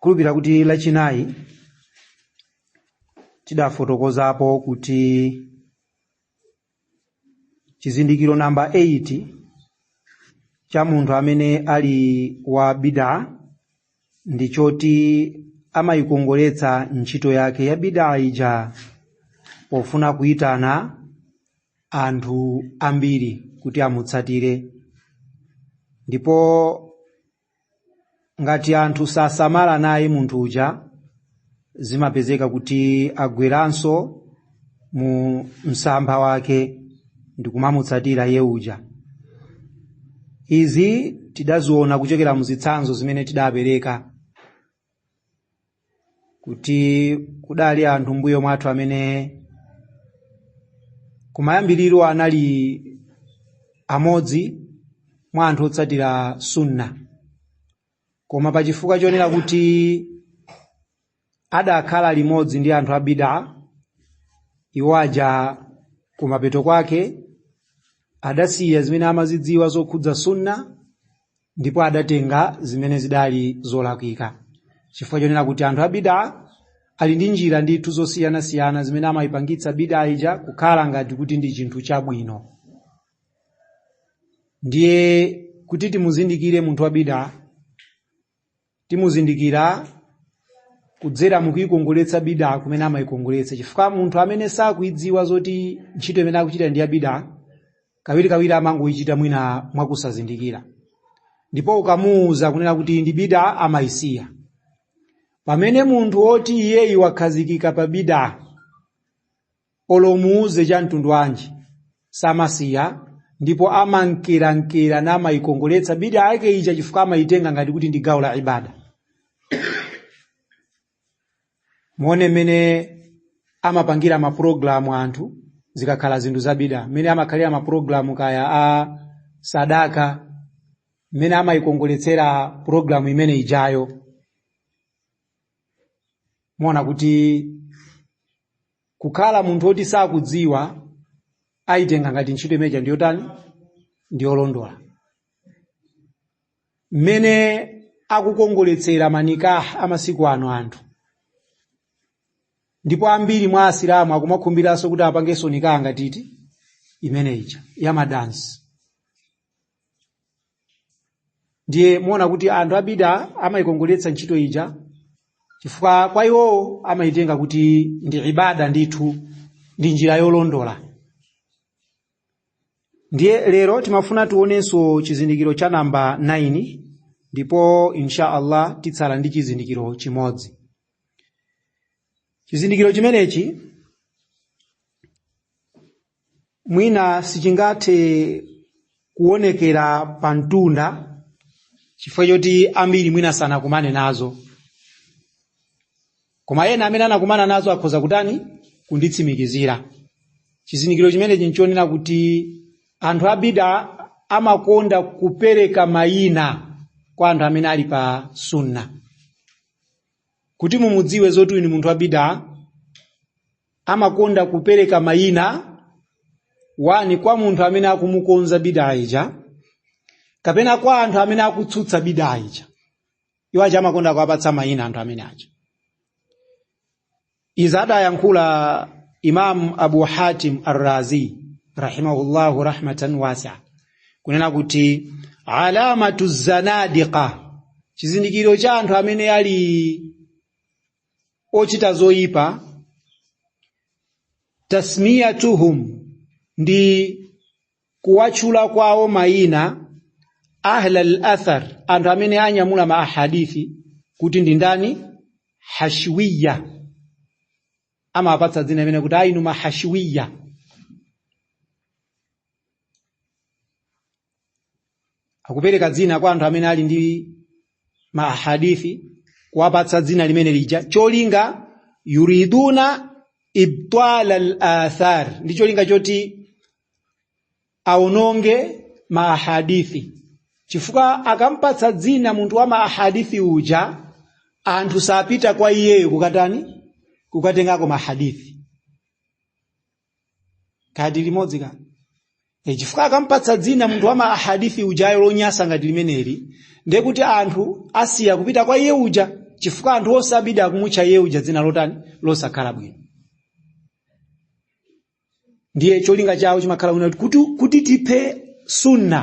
khulupira kuti lachinayi tidafotokozapo kuti chizindikiro namba 8 cha munthu amene ali wa bidaa ndi choti amayikongoletsa ntchito yake ya bidaa ija pofuna kuyitana anthu ambiri kuti amutsatire ndipo ngati anthu sasamala naye munthu uja zimapezeka kuti agweranso mu msampha wake ndi kumamutsatira iye uja izi tidaziona kuchokera mu zitsanzo zimene tidapereka kuti kudali anthu mbuyo mwathu amene kumayambiriro anali amodzi mwa anthu otsatira sunna koma pa chifukwa chonena kuti adakhala limodzi ndi anthu a bidaa iwo aja kumapeto kwake adasiya zimene amazidziwa zokhudza sunna ndipo adatenga zimene zidali zolakwika chifukwa chonena kuti anthu a bidaa ali ndi njira ndithu zosiyanasiyana zimene amayipangitsa bidaa ija kukhala ngati kuti ndi chinthu chabwino ndiye kuti timuzindikire munthu wa bidaa timuzindikira kudzera mukuikongoletsa bida kumene amaikongoletsa chifukwa munthu amene sakuidziwa zoti ntchito imene akuchita ndi ya bida kawirikawiri amangoichita mwina mwakusazindikira ndipo ukamuwuza kunena kuti ndi bida amayisiya pamene munthu woti iyeyi wakhazikika pa bida olo umuuze cha mtundu wanji samasiya ndipo amankerankera namaikongoletsa bida yake ija chifukwa amaitenga ngati kuti ndi gawo la ibada muone mmene amapangira mapulogalamu anthu zikakhala zinthu za bida mmene amakhalira mapulogalamu kaya a sadaka mmene amaikongoletsera pulogalamu imene ijayo muona kuti kukhala munthu woti sakudziwa ayitenga ngati ntchito imeneja ndi yotani ndi yolondola mmene akukongoletsera manikaha amasiku ano anthu ndipo ambiri mwa asilamu akumakhumbiranso kuti apangenso nikaha ngati imene ija yamadansi ndiye muona kuti anthu a bida amayikongoletsa ntchito ija chifukwa kwa iwowo amayitenga kuti ndi ibada ndithu ndi njira yolondola ndiye lero timafuna tionenso chizindikiro cha namba 9 ndipo insha allah titsala ndi chizindikiro chimodzi chizindikiro chimenechi mwina sichingathe kuonekera pa mtunda chifukwa choti ambiri mwina sanakumane nazo koma ena amene anakumana nazo akhoza kutani kunditsimikizira chizindikiro chimenechi nchonena kuti anthu abida amakonda kupereka mayina kwa anthu amene ali pa sunna kuti mumudziwe zoti uyu ni munthu wabida amakonda kupereka mayina wani kwa munthu amene akumukonza bidaa ija kapena kwa anthu amene akutsutsa bidaa ija iwo aja amakonda kuwapatsa mayina anthu amene aja izi adayankhula imam abu hatim arrazi rahimahullahu rahmatan wasia kunena kuti alamatu zanadiqa chizindikiro cha anthu amene ali ochita zoyipa tasmiyatuhum ndi kuwatchula kwawo mayina ahlal athar anthu amene anyamula ma ahadithi kuti ndi ndani hashwiya amapatsa dzina limene kuti ayinu mahashwiya akupereka dzina kwa anthu amene ali ndi mahadithi kuwapatsa dzina limene lija cholinga yuriduna ibtala al-athar ndi cholinga choti aononge mahadithi chifukwa akampatsa dzina munthu wa mahadithi uja anthu sapita kwa iyeyo kukatani kukatengako mahadithi kadi limodzi ka e chifukwa akampatsa dzina munthu wa ma ahadithi ujayo lonyasa ngati limeneli ndiye kuti anthu asiya kupita kwa iye uja chifukwa anthu onse abida akumutcha iye uja dzina lotani losakhala bwino ndiye cholinga chawo chimakhala kuti tiphe sunna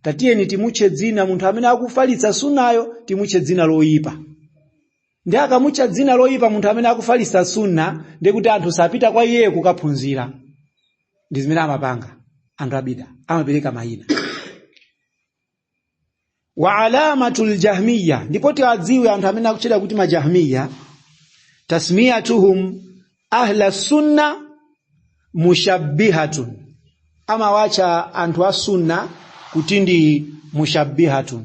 tatiyeni timutche dzina munthu amene akufalitsa sunnayo timutche dzina loyipa ndi akamutcha dzina loyipa munthu amene akufalisa sunna ndi kuti anthu sapita kwa iye kukaphunzira ndi zimene amapanga anthu abida amapereka mayina wa alamatu ljahmiya ndipo tiwadziwe anthu amene akutchedwa kuti majahmiya tasmiyatuhum ahla sunna mushabbihatun amawatcha anthu a sunna kuti ndi mushabbihatun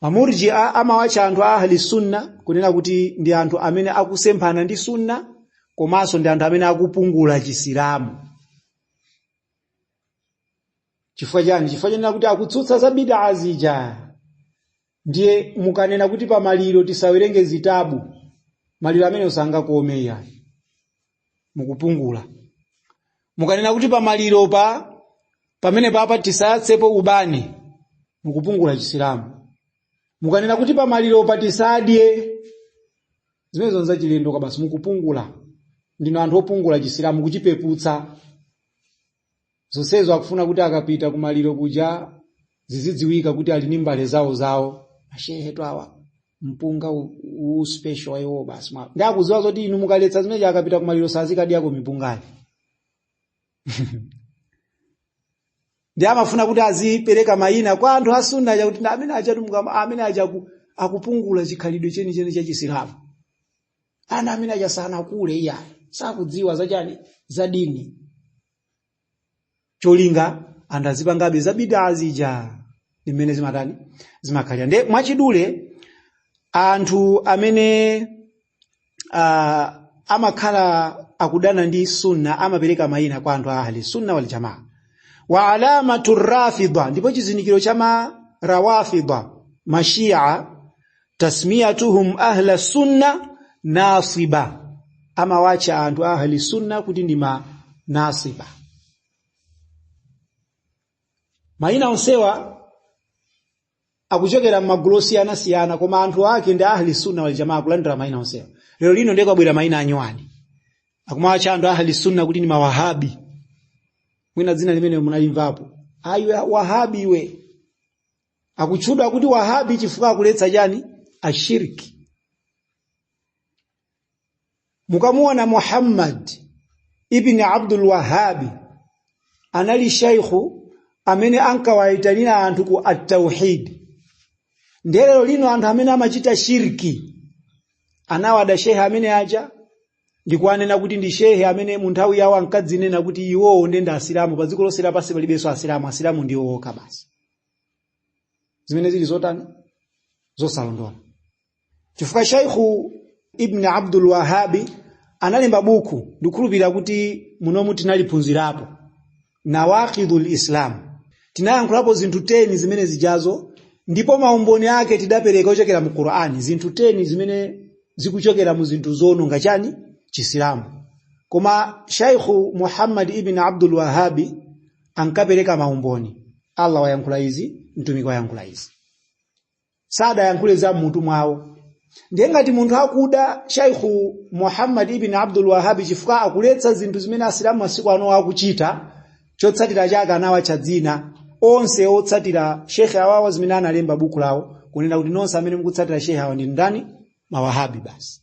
mamurji'a amawatcha anthu a ahli sunna kunena kuti ndi anthu amene akusemphana ndi sunna komanso ndi anthu amene akupungula chisilamu chifukwa chani chifukwa chanena kuti akutsutsa za bidaa zija ndiye mukanena kuti pamaliro tisawerenge zitabu maliro amene usangakome iyayi mukupungula mukanena kuti pamaliro pa pamene papa tisayatsepo ubani mukupungula chisilamu mukanena kuti pamaliro pa tisadye zimenezo nzachilendo kabasi mukupungula ndinu anthu opungula chisilamu kuchipeputsa zonsezo akufuna kuti akapita kumaliro kuja zizidziwika kuti ali ndi mbale zawo zawo ashehetu awa mpunga u- uwu special wa iwowo basi ndiye akudziwa zoti inu mukaletsa zimenezo akapita kumaliro sazikadyako mipungayo ndiye amafuna kuti azipereka mayina kwa anthu asunna aja kuti ndi amene aja amene aja aku- akupungula chikhalidwe chenicheni cha chisilamu ana amene aja sanakule iyayi sakudziwa zachani za dini cholinga anthu azipangabe za bidaa zija m'mene zimatani zimakhalira nde mwachidule anthu amene uh, amakhala akudana ndi sunna amapereka mayina kwa anthu a ahli sunna wal jamaa wa alamatu rafida ndipo chizindikiro cha ma rawafida mashia tasmiyatuhum ahla sunna nasiba amawacha anthu ahli sunna kuti ndi ma nasiba mayina onsewa akuchokera m'magulu osiyanasiyana koma anthu ake ndi ahli sunna wal jamaa kulandira mayina onsewa lero lino ndiye kwabwera mayina anyuwani akumawacha anthu ahli sunna kuti ndi mawahabi mwina dzina limeneli munalimvapo a iwe wahabi iwe akutchedwa kuti wahabi chifukwa akuletsa chani ashirki mukamuona muhammad ibni abdul wahabi anali shaikhu amene ankawayitanira anthu ku tauhidi nde lero lino anthu amene amachita shirki anawada shehe amene aja ndikuwanena kuti ndi shehe amene mu nthawi yawo ankadzinena kuti iwowo ndi asilamu pa dziko lonse lapansi palibenso asilamu asilamu ndiwo okha basi zimene zili zotani zosalondola chifukwa shaikhu ibni abdul wahabi analemba buku ndikhulupirira kuti munomu tinaliphunzirapo nawakidhu lislam tinayankhulapo zinthu 10 zimene zijazo ndipo maumboni ake tidapereka ochokera mu qur'ani zinthu 10 zimene zikuchokera mu zinthu zononga chani chisilamu koma shaikhu muhammad ibn abdul wahabi ankapereka maumboni allah wayankhula izi mtumiki wayankhula izi sadayankhule za mmutu mwawo ndiye ngati munthu akuda shaikhu muhammad ibn abdul wahabi chifukwa akuletsa zinthu zimene asilamu masiku ano akuchita chotsatira chake anawatcha dzina onse otsatira shekhe awawa zimene analemba buku lawo kunena kuti nonse amene mukutsatira shekhe awa ndi ndani mawahabi basi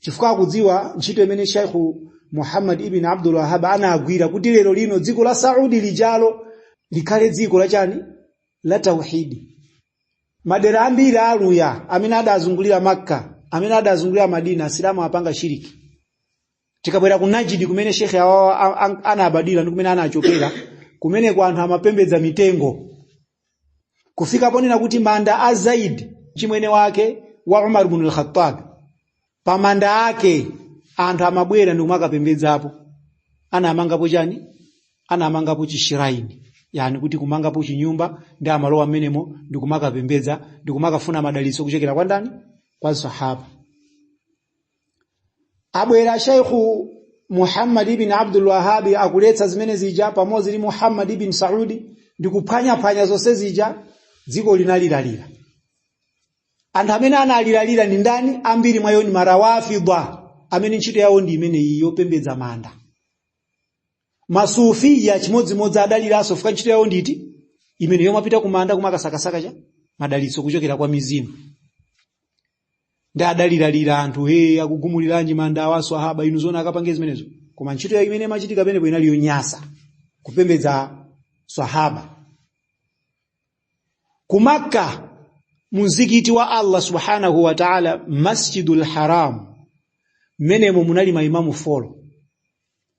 chifukwa akudziwa ntchito imene shaikhu muhammad ibn abdul wahab anagwira kuti lero lino dziko la saudi lijalo likhale dziko la chani la tauhidi madera ambiri aluya amene adazungulira makka amene adazungulira madina asilamu amapanga shiriki tikabwera ku najidi kumene shekhe awawa anabadwira ndi kumene anachokera kumeneko anthu amapembedza mitengo kufika ponena kuti manda a zaid chimwene wake wa umar bnu lkhatabi pa manda ake anthu amabwera ndi kumakapembedzapo anamangapo chani anamangapo chishiraini yani kuti kumangapo chinyumba ndi amalowa mmenemo ndi kumakapembedza ndi kumakafuna madalitso kuchokera kwa ndani kwa msahaba abwera shaikhu muhammad ibn abdul wahabi akuletsa zimene zija pamodzi ndi muhammad ibn saudi ndi kuphwanyaphwanya zonse zija dziko linaliralira anthu amene analiralira ndi ndani ambiri mwa iwo ndi marawafidwa amene ntchito yawo ndi imeneyi yopembedza manda masufiya chimodzimodzi adaliranso chifukwa ntchito yawo ndi imeneyi yomapita kumanda kumakasakasaka cha madalitso kuchokera kwa mizimu ndiye adaliralira anthu he akugumuliranji manda awa aswahaba inu zona akapange zimenezo koma ntchito ya imene imachitika penepo inali yonyasa kupembedza swahaba ku makka mumzikiti wa allah subhanahu wa taala masjidul haram mmenemo munali maimamu folo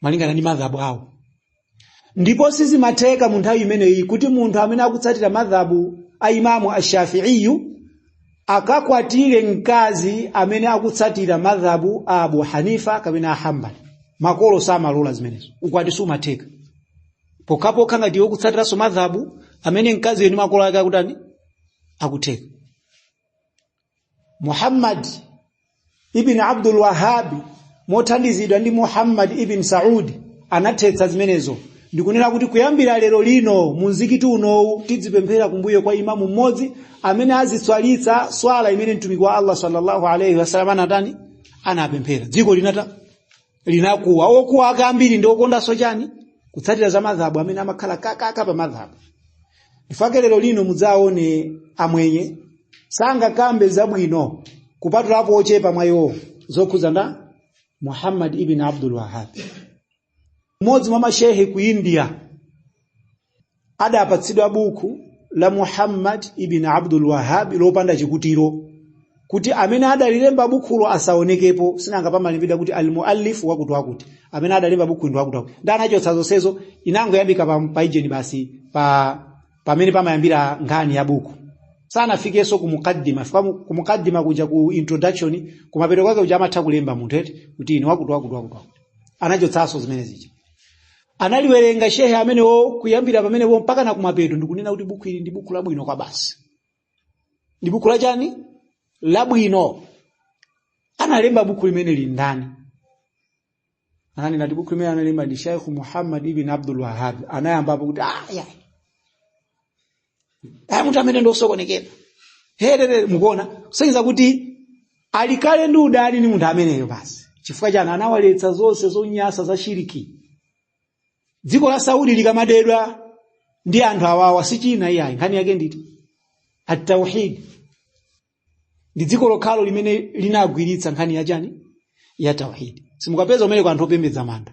malingana ndi madhabu awo ndipo sizimatheka mu nthawi imeneyi kuti munthu amene akutsatira madhabu a imamu ashafiiyu akakwatire mkazi amene akutsatira madhabu a abu hanifa kapena a hambali makolo samalola zimenezo ukwati sumatheka pokhapokha ngati iwe ukutsatiranso madhabu amene mkazi yeni makolo ake akutani akutheka Muhammad ibn Abdul Wahhab mothandizidwa ndi Muhammad ibn Saud anathetsa zimenezo ndi kunena kuti kuyambira lero lino mu mzikiti unowu tidzipemphera kumbuyo kwa imamu mmodzi amene azitswalitsa swala imene mtumiki wa Allah sallallahu alaihi wasallam anatani anapemphera dziko linata linakuwa okuwa ake ambiri ndi okondanso chani kutsatira za madhhabu amene amakhala kakaka pa madhhabu nchifake lero lino mudzaone amwenye sangakambe zabwino kupatulapo ochepa mwa iwo zokhudza ndani muhammad ibn abdul wahab mmodzi mwa mashehe ku india adapatsidwa buku la muhammad ibn abdul wahab lopanda chikutiro kuti amene adalilemba bukhulo asaonekepo sinanga pamalembedwa kuti almuallif wakuti wakuti amene adalemba bukhu ndi wakuti wakuti nde anachotsa zonsezo inangoyambika pa peji wani basi pa pamene pamayambira nkhani ya buku sanafikenso ku mukaddima fika mu- ku mukaddima kuja ku introduction kumapeto kwake kuja amatha kulemba munthu eti kuti ine wakuti wakuti wakuti wakuti anachotsanso zimene zija analiwerenga shehe amenewo kuyambira pamenepo mpaka na kumapeto ndi kunena kuti buku ili ndi buku labwino kwabasi ndi buku la chani labwino analemba buku limeneli ndani ananena kuti buku limeneli analemba ndi sheikh muhammad ibn abdul wahab anayambano kuti aya aya munthu ameneyu ndi osokonekera herere mukuona kusonyeza kuti ali kale ndi udani ni munthu ameneyo basi chifukwa chani anawaletsa zonse zonyasa za shiriki dziko la saudi likamadedwa ndi anthu awawa si china iyayi nkhani yake nditi at-tauhid ndi dziko lokhalo limene linagwiritsa nkhani ya chani ya tauhidi simukapeza kumeneko anthu opembedza manda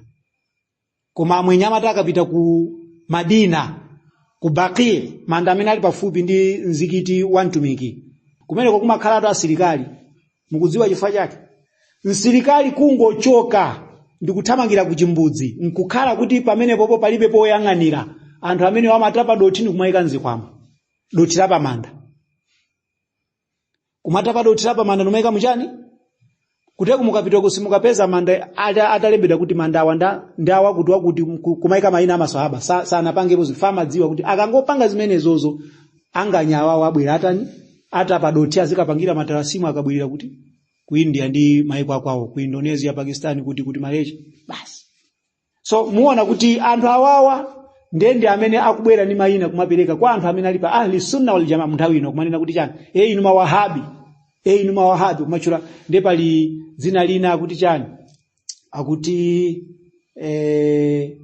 koma amwenye amati akapita ku madina ku baki manda amene ali pafupi ndi mzikiti wa mtumiki kumeneko kumakhalatu asilikali mukudziwa chifukwa chake msilikali kungochoka ndikuthamangira ku chimbudzi nkukhala kuti pamenepopo palibe woyang'anira anthu amenewa amatapa dothi ndi kumayika mzikwama dothi la pamanda kumatapa dothi la pamanda nkumaika muchani kuteroko mukapitoko simukapeza manda ata- atalembedwa kuti manda awa nda- ndi awakuti wakuti ku- kumaika mayina amaswahaba Sa- sanapangepo zifa amadziwa kuti akangopanga zimenezozo anganyawawo abwera atani atapa dothi azikapangira matalasimu akabwerera kuti ku india ndi maiko akwawo ku indonesia pakistan kuti kuti malaysia basi so muona kuti anthu awawa ndende amene akubwera ndi mayina kumapereka kwa anthu amene ali pa ahli sunna wal jamaa munthawi ino kumanena kuti chani e inu mawahabi e inu mawahabi kumatchula nde pali dzina lina akuti chani akuti eh,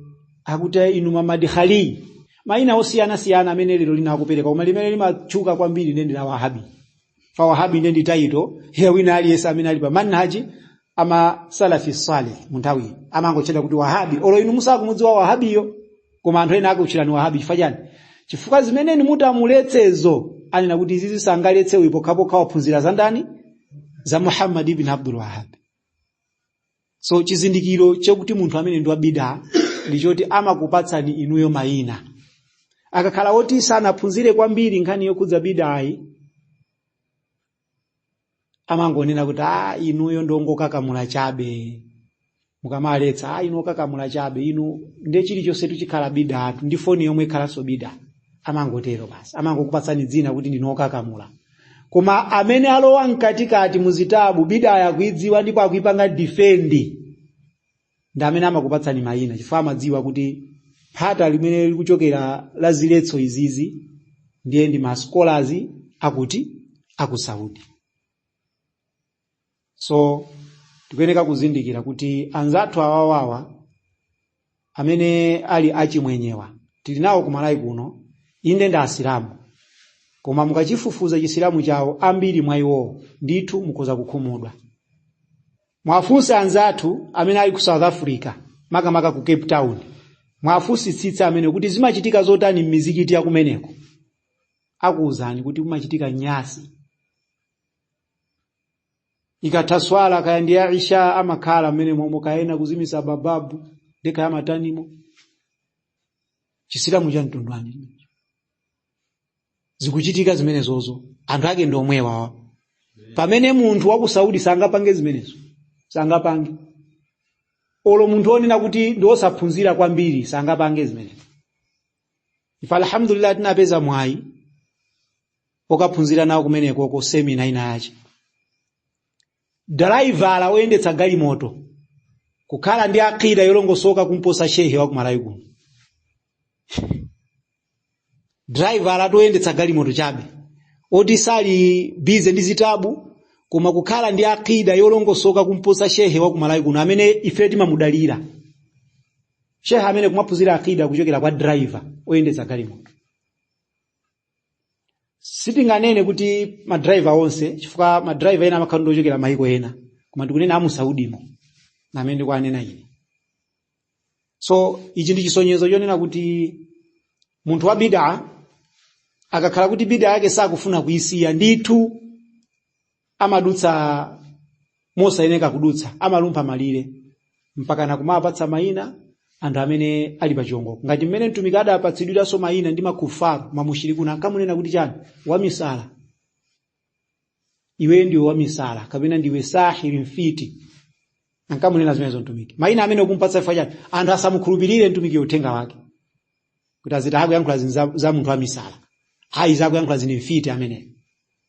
akuti inu mamadikhali mayina osiyana siyana amene lero lino akupereka koma limene limatchuka kwambiri ndende la wahabi fa wahabi nde ndi title ya wina aliyense amene ali pa manhaji ama salafi salih munthawi amangotchedwa kuti wahabi olo inu musakumudziwa wahabiyo koma anthu ena akutchulani wahabi chifukwa chani chifukwa zimene inu muti amuletsezo anena kuti izizi sangaletse uyu pokhapokha waphunzira za ndani za muhammad ibn abdul wahabi so chizindikiro chakuti munthu amene ndi wa bida ndi choti amakupatsani inuyo mayina akakhala woti sanaphunzire kwambiri nkhani yokhudza bidayi amangonena kuti a inuyo ndongokakamula chabe mukamaletsa a inu okakamula chabe inu nde chilichonsetu chikhala bidatu ndi foni yomwe ikhalanso bida amangotero basi amangokupatsani dzina kuti ndinu okakamula koma amene alowa mkatikati muzitabu bidayo akuidziwa ndipo akuipanga defend ndi amene amakupatsani mayina chifukwa amadziwa kuti phata limene likuchokera la ziletso izizi ndiye ndi ma scholars akuti aku saudi so tikuyeneka kuzindikira kuti anzathu awawawa amene ali achimwenyewa tili nawo ku malawi kuno inde ndi asilamu koma mukachifufuza chisilamu chawo ambiri mwa iwowo ndithu mukhoza kukhumudwa muwafunse anzathu amene ali ku south africa makamaka ku cape town muwafunsitsitse amene kuti zimachitika zotani m'mizikiti ya kumeneko akuwuzani kuti kumachitika nyasi ikatha swala kaya ndi ya isha amakhala mmenemo momwe kaya ena kuzimitsa babu ndi kaya matanimo chisilamu cha mtundu wanji zikuchitika zimenezozo anthu ake ndi omwewawa pamene munthu wa ku saudi sangapange zimenezo sangapange olo munthu onena kuti ndi osaphunzira kwambiri sangapange zimenezo ife alhamdulillah tinapeza mwayi okaphunzira nawo kumenekoko semina ina yake driver oyendetsa galimoto kukhala ndi akida yolongosoka kumposa shehe wa kumalawi kuno driver oyendetsa galimoto chabe oti sali busy ndi zitabu koma kukhala ndi akida yolongosoka kumposa shehe wa kumalawi kuno amene ife timamudalira shehe amene kumaphunzira akida kuchokera kwa driver oyendetsa galimoto sitinganene kuti madriver onse chifukwa madriver ena amakhala ndi ochokera mayiko ena koma ndikunena amu saudimo amene ndikuwanena ine so ichi ndi chisonyezo chonena kuti munthu wa bida akakhala kuti bida yake sakufuna kuyisiya ndithu amadutsa mosayeneka kudutsa amalumpha malire mpaka nakumapatsa mayina anthu amene ali pa chiongoko ngati mmene mtumiki adapatsidwiranso mayina ndi makufaru mamushirikuna ankamunena kuti chani wamisala iwe ndiwe wamisala kapena ndiwe sahiri mfiti ankamunena zimenezo mtumiki maina amene akumpatsa chifukwa chani anthu asamukhulupirire mtumiki uthenga wake kuti aziti akuyankhula zinthu za, za munthu wamisala ayi akuyankhula zinthu mfiti ameneyo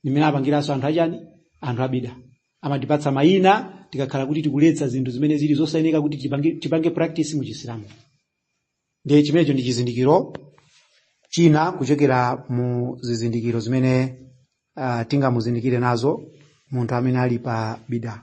ndi mmene apangiranso anthu achani anthu abida amatipatsa maina tikakhala kuti tikuletsa zinthu zimene zili zosayeneka kuti tipange, tipange practice mu chisilamu ndiye chimenecho ndi chizindikiro china kuchokera mu zizindikiro zimene uh, tingamuzindikire nazo munthu amene ali pa bida